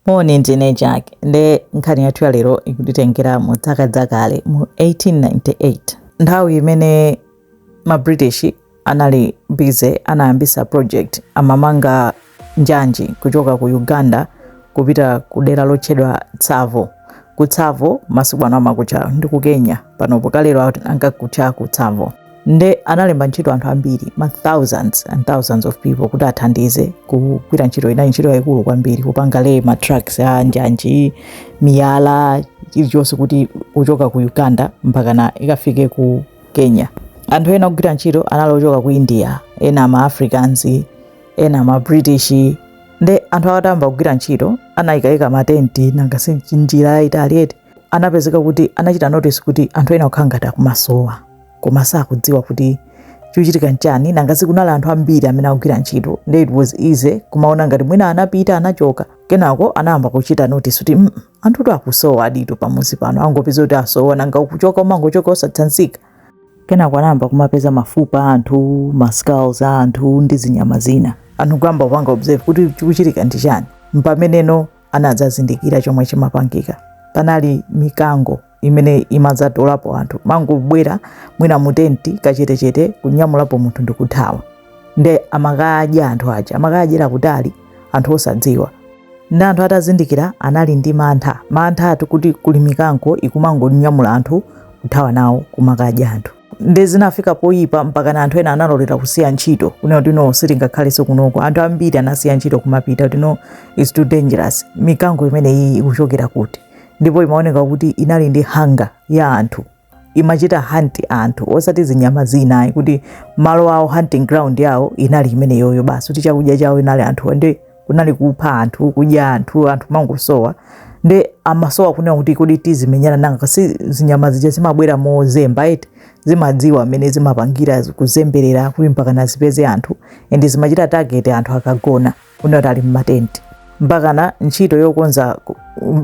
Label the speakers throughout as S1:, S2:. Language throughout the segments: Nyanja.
S1: Moni, ndine Jack nde nkhani yathu ya lero ikutitengera mu dzaka dzakale mu 1898 nthawi imene ma British anali busy anayambisa project amamanga njanji kuchoka ku Uganda kupita ku dera lotchedwa Tsavo ku Tsavo masiku ano amakutcha ndi ku Kenya panopo, kalero ankakutcha ku Tsavo nde analemba ntchito anthu ambiri ma thousands and thousands of people kuti athandize kugwira ntchito inali ntchito yayikulu kwambiri kupanga le ma tracks a njanji miyala chilichonse kuti kuchoka ku uganda mpakana ikafike ku kenya anthu ena ogwira ntchito anali ochoka ku india ena ma africans ena ma british nde anthu atayamba kugwira ntchito anaikaika matenti nanga si njira yayitali eti anapezeka kuti anachita notice kuti anthu ena akukhala ngati akumasowa koma sakudziwa kuti chochitika nchani nanga si kunali anthu ambiri amene akugwira ntchito nde it was easy kumaona ngati mwina anapita anachoka kenako anayamba kuchita notice kuti mm, anthutu akusowaditu pamuzi pano angopeza kuti asowa nanga ukuchoka umangochoka osatsanzika kenako anayamba kumapeza mafupa a anthu maskulls a anthu ndi zinyama zina anthu kuyamba kupanga observe kuti chikuchitika ndi chani mpamene no anadzazindikira chomwe chimapangika panali mikango imene imadzatolapo anthu imangobwera mwina mutenti kachetechete kunyamulapo munthu ndikuthawa nde amakadya anthu aja amakadyera kutali anthu osadziwa nde anthu atazindikira anali ndi mantha manthatu kuti kuli mikango ikumangonyamula anthu kuthawa nawo kumakadya anthu nde zinafika poyipa mpakana anthu ena analolera kusiya ntchito kunena kuti no sitingakhalenso kunoko anthu ambiri anasiya ntchito kumapita kuti no it's too dangerous mikango imeneyi ikuchokera kuti ndipo imaoneka kuti inali ndi hunger ya anthu imachita hunt anthu osati zinyama zina ayi kuti malo awo hunting ground yawo inali imeneyoyo basi kuti chakudya chawo inali anthu nde kunali kupha anthu kudya anthu anthu amangosowa nde amasowa kunena kuti kodi tizimenyana nanga si zinyama zija zimabwera mozemba eti zimadziwa mmene zimapangira kuzemberera kuti mpakana zipeze anthu ende zimachita target anthu akagona kunena kuti ali mmatenti mpakana ntchito yokonza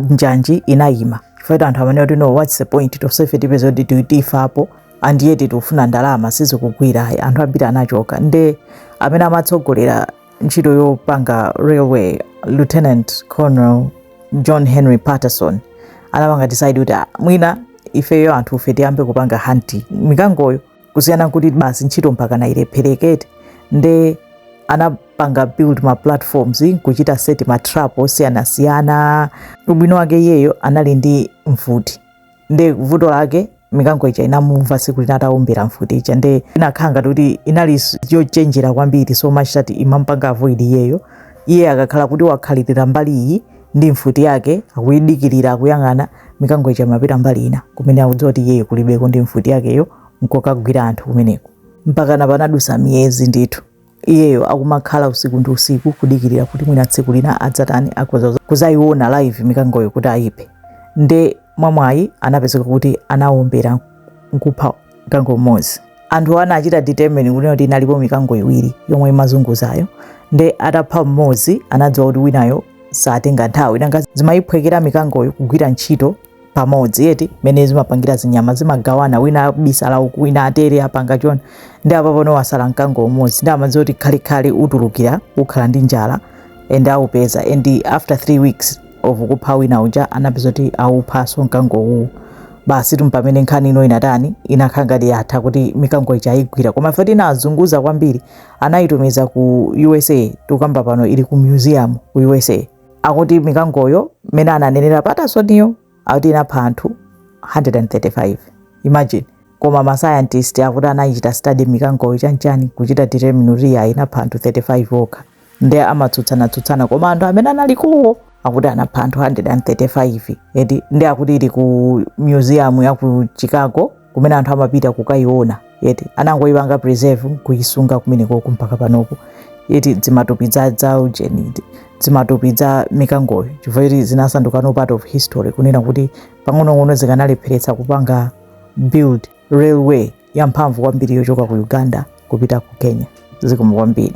S1: njanji inayima chifukwa anthu amanena kuti no what's the point tosefe tipezeka kuti tifapo and yet tikufuna ndalama sizikugwira anthu ambiri anachoka nde amene amatsogolera ntchito yopanga railway lieutenant colonel john henry patterson anapanga decide kuti "Ah, mwina ifeyo anthufe tiyambe kupanga hunt mikangoyo kusiyana kuti basi ntchito mpakana ilephereketu nde anapanga build ma platforms kuchita set ma trap osiyanasiyana ubwino wake iyeyo anali ndi mfuti nde vuto lake mikango ija inamumva siku lina ataumbira mfuti ija nde inakhala ngati kuti inali s- yochenjera kwambiri so much that imampanga avoid iyeyo iye akakhala kuti wakhalirira mbali iyi ndi mfuti yake akuyidikirira akuyang'ana mikango ija imapita mbali ina kumene akudziwa kuti iyeyo kulibeko ndi mfuti yakeyo nkokagwira anthu kumeneko mpakana panadusa miyezi ndithu iyeyo akumakhala usiku ndi usiku kudikirira kuti mwina tsiku lina adzatani akhoza kuzayiona live mikangoyo kuti ayiphe nde mwamwayi anapezeka kuti anawombera nkupha mkango mmodzi anthu anachita determine kunena kuti inalipo mikango iwiri yomwe imazunguzayo nde atapha mmodzi anadziwa kuti winayo satenga nthawi nanga zimayiphwekera mikangoyo kugwira ntchito pamodzi eti mene zimapangira zinyama zimagawana wina abisala uku wina atere apanga chona nde apa pano wasala mkango umodzi nde amadziwa kuti khalikhali utulukira ukhala ndi njala ende aupeza and after three weeks of kupha wina uja anapezeka kuti auphaso mkango uwu basi tu mpamene nkhani ino inatani inakhala ngati yatha kuti mikango ija ayigwira koma fact inazunguza kwambiri anayitumiza ku usa tikukamba pano ili ku museum ku usa akuti mikangoyo mmene ananenera patasoniyo akuti inapha anthu 135 imagine koma masayantist akuti anayichita study mikangoyo chanchani kuchita determine kuti ya inapha anthu 35 okha nde amatsutsanatsutsana koma anthu amene analiko wo akuti anapha anthu 135 eti nde akuti ili ku museum ya ku chicago kumene anthu amapita kukayiona eti anangoyipanga preserve kuyisunga kumenekoko mpaka panopo eti dzimatupi dza dza ujeni dzimatupi dza mikangoyo chifukwa choti zinasandukano part of history kunena kuti pang'onong'ono zikanalepheretsa kupanga build railway yamphamvu kwambiri yochoka ku uganda kupita ku kenya zikomo kwambiri